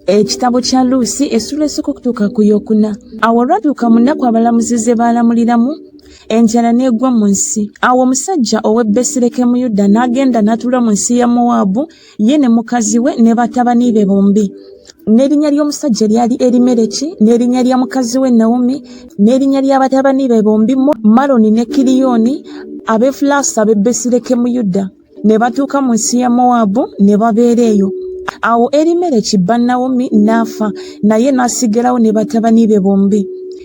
ekitabo kya luusi essula esooka okutuuka ku yokuna awo olwatuuka mu nnaku abalamuzi ze baalamuliramu enjala n'egwa mu nsi awo omusajja ow'e besirekemu yuda n'agenda n'atuula mu nsi ya mowaabu ye ne mukazi we ne batabani be bombi n'erinnya ly'omusajja lyali erimereki n'erinnya lya mukazi we nawomi n'erinnya lya batabani be bombi maloni ne kiriyoni ab'efulaasa ab'e besirekemu yuda ne batuuka mu nsi ya mowaabu ne babeera eyo awo erimereki bba nawomi n'afa naye n'asigalawo ne batabani be bombi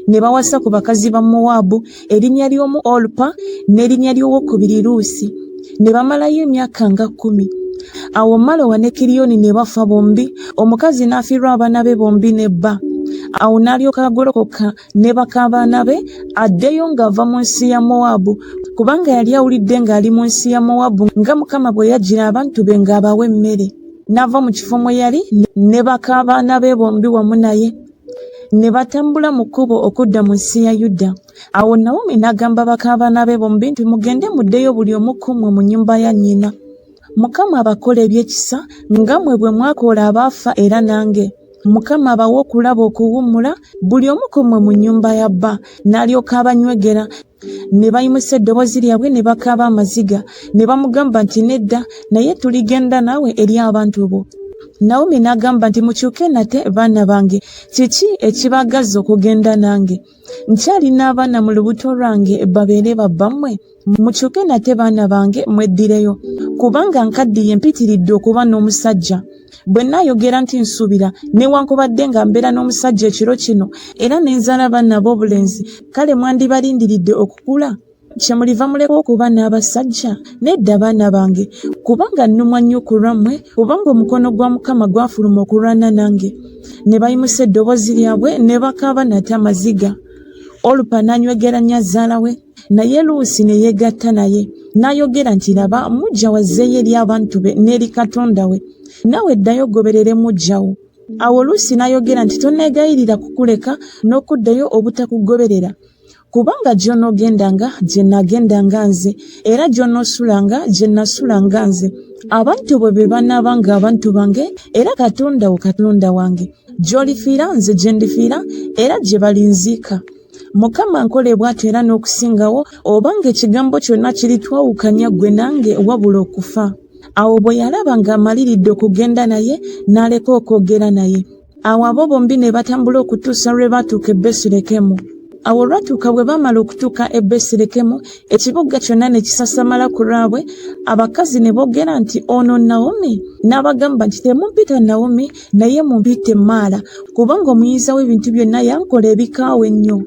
ne bawasa ku bakazi ba mowaabu erinnya ly'omu olupa n'erinnya ly'owokubiri luusi ne bamalayo emyaka nga kkumi awo malowa ne kiriyoni ne bafa bombi omukazi n'afiirwa abaana be bombi ne bba awo n'alyoka agolokoka ne bakaabaana be addeyo ng'ava mu nsi ya mowaabu kubanga yali awulidde ng'ali mu nsi ya mowaabu nga mukama bwe yajjira abantu be ng'abawa emmere n'ava mu kifo mwe yali ne bakaabaana be bombi wamu naye ne batambula mu kkubo okudda mu nsi ya yuda awo nawomi n'agamba bakaabaana be bombi nti mugende muddeyo buli omu ku mmwe mu nnyumba ya nnyina Mukama abakola ebyekisa nga mwe bwe mwakoola abaafa era nange. Mukama abawe okulaba okuwummula buli omu ku mmwe mu nnyumba ya bba. N'alyoka abanywegera. Ne bayimusa eddoboozi lyabwe ne bakaaba amaziga. Ne bamugamba nti, Nedda, naye tuligenda naawe eri abantu bo. Nawomi n'agamba nti, Mukyuke nate, baana bange. Kiki ekibaagazza okugenda nange? nkyalina abaana mu lubuto lwange babeere babbammwe mukyuke nate baana bange mweddireyo kubanga nkaddiye mpitiridde okuba n'omusajja bwe nayogera nti nsuubira newankubadde nga mbeera n'omusajja ekiro kino era ne nzaala baana ab'obulenzi kale mwandibalindiridde okukula kyemuliva muleka okuba n'abasajja nedda baana bange kubanga nnumwa nnyo ku lwammwe kubanga omukono gwa mukama gwafuluma okulwana nange ne bayimusa eddoboozi lyabwe ne bakaaba nate amaziga olupa n'anywegera nnyo azaala we naye luusi ne yeegatta naye n'ayogera nti laba mujja wazzeeyo eri abantu be n'eri katonda we naawe ddayo ogoberere mujjawo awo luusi n'ayogera nti tonneegayirira kukuleka n'okuddayo obutakugoberera Kubanga gy'onoogendanga gye nnaagendanga nze, era gy'onoosulanga gye nnasulanga nze. Abantu bo be banaabanga abantu bange, era Katonda wo Katonda wange. Gy'olifiira nze gye ndifiira, era gye balinziika. Mukama ankole bw'atyo era n'okusingawo, obanga ekigambo kyonna kiritwawukanya ggwe nange wabula okufa. Awo bwe yalaba ng'amaliridde okugenda naye, n'aleka okwogera naye. Awo abo bombi ne batambula okutuusa lwe baatuuka e Besirekemu. Awo olwatuuka bwe baamala okutuuka e Besirekemu, ekibuga kyonna ne kisasamala ku lwabwe, abakazi ne boogera nti, Ono Nawomi? N'abagamba nti, Temumpita Nawomi, naye mumpite Maala, kubanga omuyinza w'ebintu byonna yankola ebikaawa ennyo.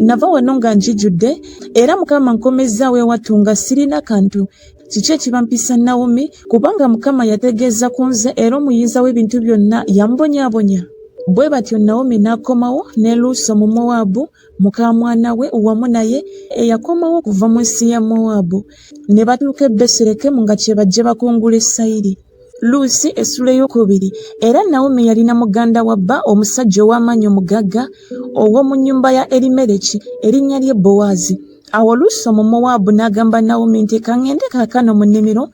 Nava wano nga njijudde, era Mukama nkomezzaawo ewattu nga sirina kantu. Kiki ekibampisa Nawomi? Kubanga Mukama yategeeza ku nze, era omuyinza w'ebintu byonna yambonyabonya. Bwe batyo Nawomi n'akomawo ne Luusi Omumowaabu, muka mwana we, wamu naye, eyakomawo okuva mu nsi ya Mowaabu. Ne batuuka e Besirekemu nga kye bajje bakungule sayiri. Luusi essula ey'okubiri. Era Nawomi yalina muganda wa bba omusajja ow'amaanyi omugagga ow'omu nnyumba ya Erimereki, erinnya lye Bowaazi. Awo Luusi Omumowaabu n'agamba Nawomi nti, Ka ŋŋende kaakano mu nnimiro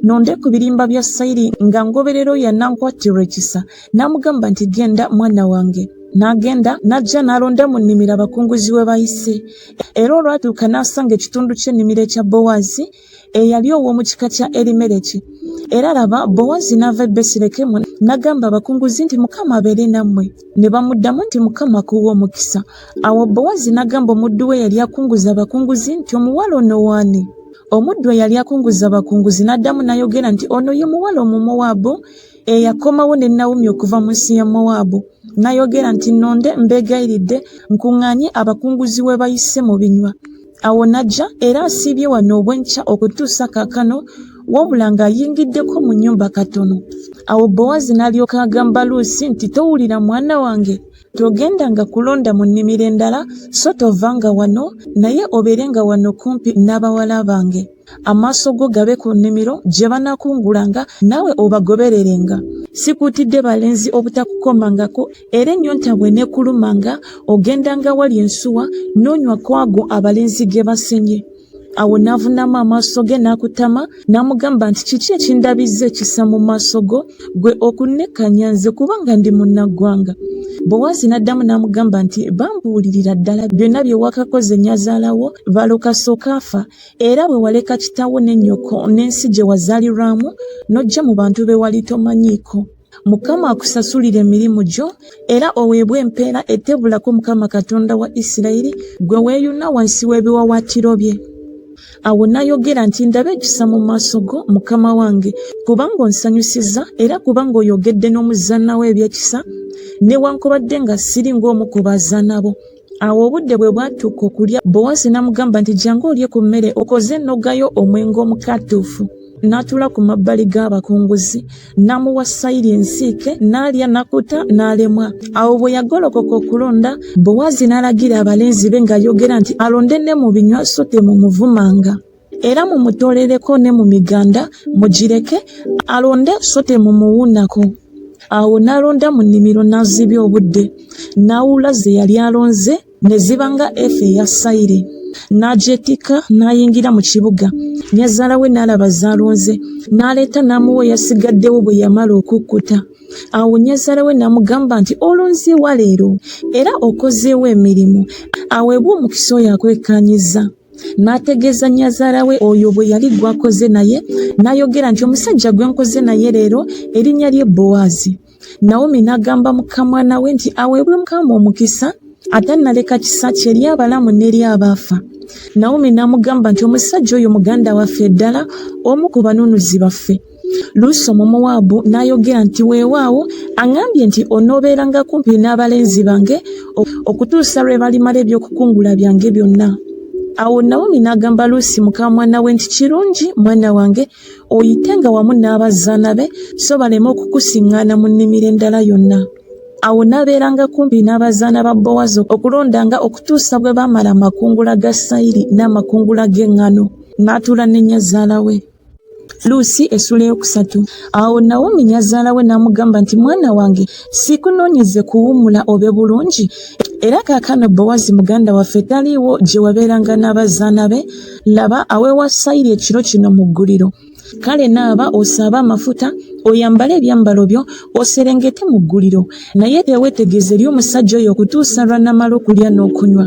nonde ku birimba bya sayiri nga ngoberera oyo anankwattirwa ekisa. N'amugamba nti, Genda mwana wange. N'agenda, n'ajja n'alonda mu nnimiro abakunguzi we bayise. Era olwatuuka n'asanga ekitundu ky'ennimiro ekya Bowaazi. eyali ow'omu kika kya Erimereki. Era laba, Bowazi n'ava e Besirekemu, n'agamba abakunguzi nti, Mukama abeere nammwe. Ne bamuddamu nti, Mukama akuwe omukisa. Awo Bowazi n'agamba omuddu we eyali akunguza abakunguzi nti, Omuwala ono w'ani? Omuddu eyali akunguza abakunguzi n'addamu n'ayogera nti, Ono ye muwala Omumowaabu eyakomawo ne Nawomi okuva mu nsi ya Mowaabu. N'ayogera nti, Nnonde, mbeegayiridde, nkuŋŋaanye abakunguzi we bayise mu binywa. awo n'ajja era asiibye wano obwenkya okutuusa kaakano wabula ng'ayingiddeko mu nnyumba katono awo bowazi n'alyoka agamba luusi nti towulira mwana wange togenda nga kulonda mu nnimiro endala so tovanga wano naye obeere nga wano kumpi n'abawala bange amaaso go gabe ku nnimiro gye banakungulanga naawe obagobererenga sikuutidde balenzi obutakukomangako era ennyonta bwe nekulumanga ogendanga wali ensuwa n'onywa kwago abalenzi ge basenye awo n'avunamu amaaso ge n'akutama n'amugamba nti kiki ekindabizza ekisa mu maaso go gwe okunnekkanya nze kubanga ndi munnaggwanga bowaazi n'addamu n'amugamba nti bambuulirira ddala byonna bye wakakoze nnyazaalawo balokasooka afa era bwe waleka kitawo ne nyoko n'ensi gye wazalirwamu n'ojja mu bantu be wali tomanyiiko mukama akusasulire emirimu gyo era oweebwe empeera etebulako mukama katonda wa isirayiri gwe weeyuna wansi w'ebiwawaatiro bye awo n'ayogera nti ndabe ekisa mu maaso go mukama wange kubanga onsanyusiza era kubanga oyogedde n'omuzaana wo ebyekisa newankubadde nga siri ng'omu ku bazaana bo Awo obudde bwe bwatuuka okulya, Bowaazi n'amugamba nti, Jjangu olye ku mmere okoze nnogayo omwenge omukatuufu. N'atuula ku mabbali g'abakunguzi, n'amuwa sayiri ensiike, n'alya, n'akkuta, n'alemwa. Awo bwe yagolokoka okulonda, Bowaazi n'alagira abalenzi be ng'ayogera nti, Alonde ne mu binywa so temumuvumanga. era mumutolereko ne mu miganda mugireke alonde so temumuwuunako awo n'alonda mu nnimiro n'azibya obudde n'awuula ze yali alonze ne ziba nga efa eya sayiri n'agyetikka n'ayingira mu kibuga nyazaala we n'alaba z'alonze n'aleeta n'amuwa eyasigaddewo bwe yamala okukkuta awo nyazaala we n'amugamba nti olonzeewa leero era okozeewo emirimu aweebwa omukisa oyo akwekkaanyizza n'ategeeza nnyazaala we oyo bwe yali gw'akoze naye n'ayogera nti omusajja gwe nkoze naye leero erinnya lye bowaazi nawomi n'agamba mukamwana we nti aweebwe mukama omukisa ate naleka kisa kye eri abalamu n'eri abaafa nawomi n'amugamba nti omusajja oyo muganda waffe ddala omu ku banunuzi baffe Luusi Omumowaabu n'ayogera nti, Weewaawo, aŋŋambye nti, Onoobeeranga kumpi n'abalenzi bange okutuusa lwe balimala eby'okukungula byange byonna. Awo Nawomi n'agamba Luusi muka mwana we nti, Kirungi, mwana wange, oyitenga wamu n'abazaana be, so baleme okukusiŋŋaana mu nnimiro endala yonna. Awo n'abeeranga kumpi n'abazaana ba Bowazi okulondanga okutuusa bwe baamala amakungula ga sayiri n'amakungula g'eŋŋano, n'atuula ne nnyazaala we. luusi essula eyokusatu awo nawomi nyazaala we n'amugamba nti mwana wange sikunoonyeze kuwummula obe bulungi era kaakano bowazi muganda waffe taliiwo gye wabeeranga n'abazaana be laba aweewa sayiri ekiro kino mu gguliro kale naaba osaabe amafuta oyambale ebyambalo byo oserengete mu gguliro naye tewetegeeza eri omusajja oyo okutuusa lwanamala okulya n'okunywa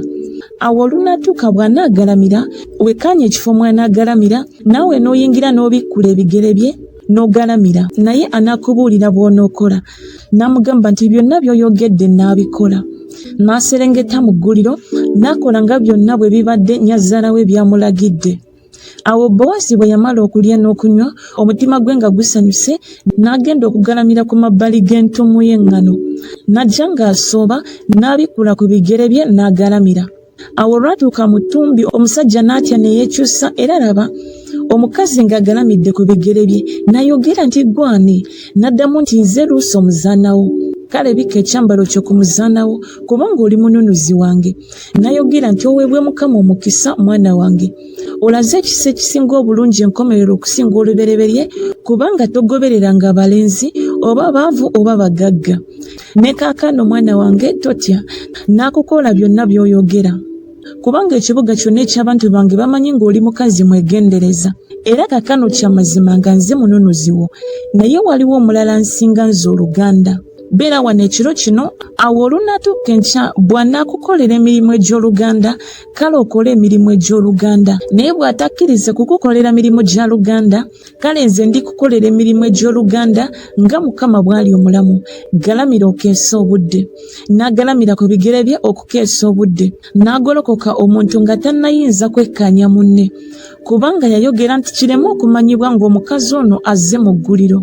awo olunatuuka bw'anaagalamira wekkaanya ekifo mw'anaagalamira naawe n'oyingira n'obikkula ebigere bye n'ogalamira naye anaakubuulira bw'onookola n'amugamba nti byonna by'oyogedde n'abikola n'aserengeta mu gguliro n'akola nga byonna bwe bibadde nyazaala we byamulagidde awo bowasi bwe yamala okulya n'okunywa omutima gwe nga gusanyuse n'agenda okugalamira ku mabbali g'entumu y'eŋŋano n'ajja ng'asooba n'abikkula ku bigere bye n'agalamira awo olwatuuka mu ttumbi omusajja n'atya ne yeekyusa era laba omukazi ng'agalamidde ku bigere bye nayogera nti gwani n'addamu nti nze luusi omuzaanawo kale bikka ekyambalo kyo ku muzaanawo kubanga oli mununuzi wange nayogera nti oweebwe mukama omukisa mwana wange olaze ekisa ekisinga obulungi enkomerero okusinga olubereberye kubanga togobereranga abalenzi oba baavu oba bagagga ne kaakano mwana wange totya n'akukola byonna by'oyogera kubanga ekibuga kyonna eky'abantu bange bamanyi ng'oli mukazi mwegendereza era kaakano kya mazima nga nze mununuzi wo naye waliwo omulala nsinga nze oluganda beera wano ekiro kino awo olunaatuuka enkya bw'anaakukolera emirimu egy'oluganda kale okole emirimu egy'oluganda naye bw'atakkirize kukukolera mirimu gya luganda Kale nze ndi kukolera emirimu egy'oluganda nga Mukama bw'ali omulamu. Galamira okeese obudde. N'agalamira ku bigere bye okukeesa obudde. N'agolokoka omuntu nga tannayinza kwekkaanya munne. Kubanga yayogera nti kireme okumanyibwa ng'omukazi ono azze mu gguliro.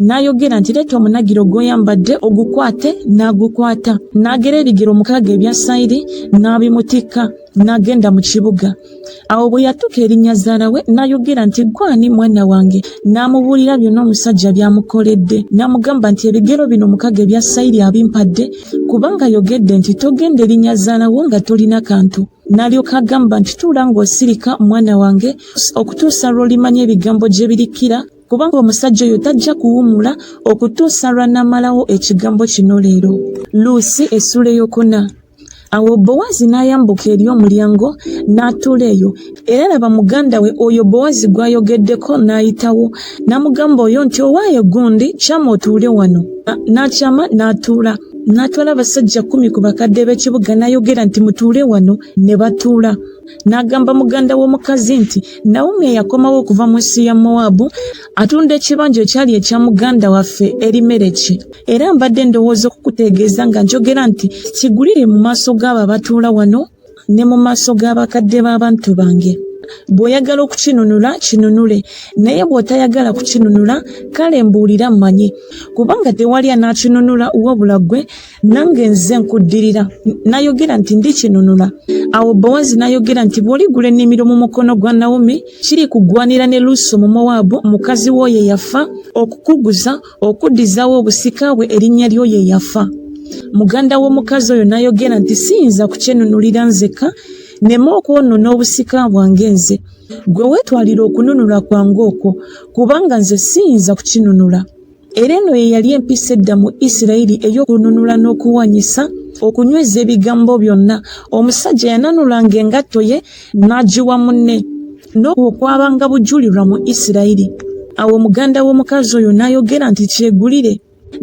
N'ayogera nti leeta omunagiro gw'oyambadde ogukwate, n'agukwata. N'agera ebigero omukaaga ebya sayiri, n'abimutikka, n'agenda mu kibuga. awo bwe yatuuka erinnya zzaala we n'ayogera nti gwani mwana wange n'amubuulira byonna omusajja by'amukoledde n'amugamba nti ebigero bino mukaga ebya sayiri abimpadde kubanga ayogedde nti togenda erinnya zzaala wo nga tolina kantu n'alyoka agamba nti tuula ng'osirika mwana wange okutuusa lw'olimanya ebigambo gye birikkira kubanga omusajja oyo tajja kuwumula okutuusa lw'anaamalawo ekigambo kino leero luusi essuula eyokuna Awo Bowazi n'ayambuka eri omulyango n'atuula eyo, era laba, muganda we oyo Bowazi gw'ayogeddeko n'ayitawo, n'amugamba oyo nti, Owaaye gundi, kyama otuule wano. N'akyama n'atuula. N'atwala abasajja kkumi ku bakadde b'ekibuga n'ayogera nti, Mutuule wano. Ne batuula. N'agamba muganda w'omukazi nti, Nawomi eyakomawo okuva mu nsi ya Mowaabu atunda ekibanja ekyali ekya muganda waffe eri mereki era mbadde ndowooza okukutegeeza nga njogera nti kigulire mu maaso g'abo abatuula wano ne mu maaso g'abakadde b'abantu bange bw'oyagala okukinunula kinunule naye bw'otayagala kukinunula kale mbuulira mmanyi kubanga tewali anaakinunula wabula ggwe nange nze nkuddirira nayogera nti ndikinunula awo bowazi nayogera nti bw'oligula ennimiro mu mukono gwa nawomi kiri kugwanira ne luuso mu mowaabu mukazi w'oyo eyafa okukuguza okuddizaawo obusika bwe erinnya ly'oyo eyafa muganda w'omukazi oyo nayogera nti siyinza kukyenunulira nzekka nema okwonona obusika bwange nze gwe weetwalira okununula kwange okwo kubanga nze siyinza kukinunula era eno ye yali empisa edda mu isirayiri ey'okununula n'okuwanyisa okunyweza ebigambo byonna omusajja yananulanga engatto ye n'agiwa munne n'okwo kwabanga bujulirwa mu isirayiri awo muganda w'omukazi oyo n'ayogera nti kyegulire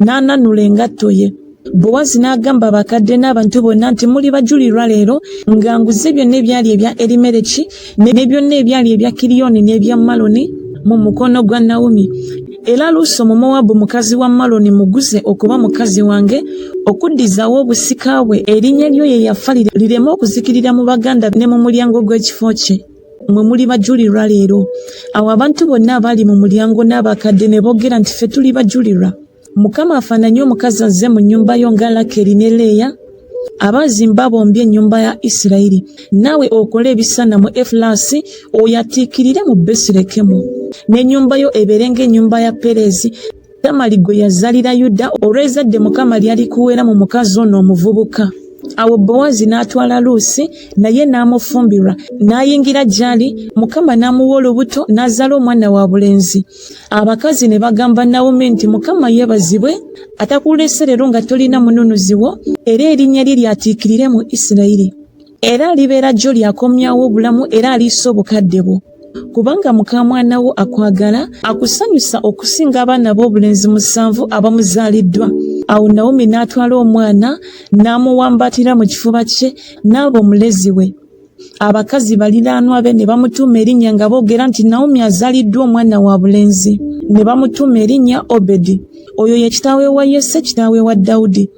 n'ananula engatto ye Bowazi n'agamba abakadde n'abantu bonna nti muli bajulirwa leero nga nguze byonna ebyali ebya Erimereki ne byonna ebyali ebya Kiriyoni n'ebya Maloni mu mukono gwa Nawomi. Era Luusi Omumowaabu mukazi wa Maloni muguze okuba mukazi wange okuddizaawo obusika bwe, erinnya lyo ye yafa lireme okuzikirira mu baganda be ne mu mulyango gw'ekifo kye. Mwe muli bajulirwa leero. Awo abantu bonna abaali mu mulyango n'abakadde ne boogera nti, Ffe tuli bajulirwa. Mukama afananye omukazi azze mu nnyumba yo nga Lakeri ne Leeya abaazimba bombi ennyumba ya Isirayiri, naawe okole ebisana mu Efulasi, oyatiikirire mu Besirekemu, n'ennyumba yo ebeere ng'ennyumba ya Pereezi, Tamali gwe yazalira Yuda, olw'ezadde Mukama lyalikuweera mu mukazi ono omuvubuka. Awo Bowazi n'atwala Luusi naye n'amufumbirwa, n'ayingira gy'ali, Mukama n'amuwa olubuto, n'azaala omwana wa bulenzi. abakazi ne bagamba nawumi nti mukama yebazibwe atakulese leero nga tolina mununuzi wo era erinnya lye lyatiikirire mu isirayiri era alibeera jjo lyakomyawo obulamu era aliisa obukadde bwo kubanga mukamwana wo akwagala akusanyusa okusinga abaana b'obulenzi musanvu abamuzaaliddwa awo nawumi n'atwala omwana n'amuwambatira mu kifuba kye n'aba omulezi we Abakazi baliraanwa be ne bamutuuma erinnya nga boogera nti Naomi azaaliddwa omwana wa bulenzi. Ne bamutuuma erinnya Obedi. Oyo ye kitaawe wa Yesse, kitaawe wa Dawudi.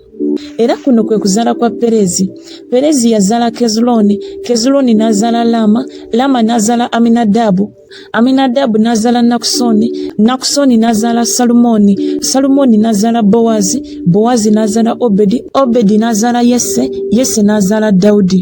Era kuno kwe kuzaala kwa Perezi. Perezi yazaala Kezulooni, Kezulooni n'azaala Laama, Laama n'azaala Aminadaabu. Aminadabu n'azaala Nakusoni, Nakusoni n'azaala Salumooni, Salumooni n'azaala Bowazi, Bowazi n'azaala Obedi, Obedi n'azaala Yese, Yese n'azaala Dawudi.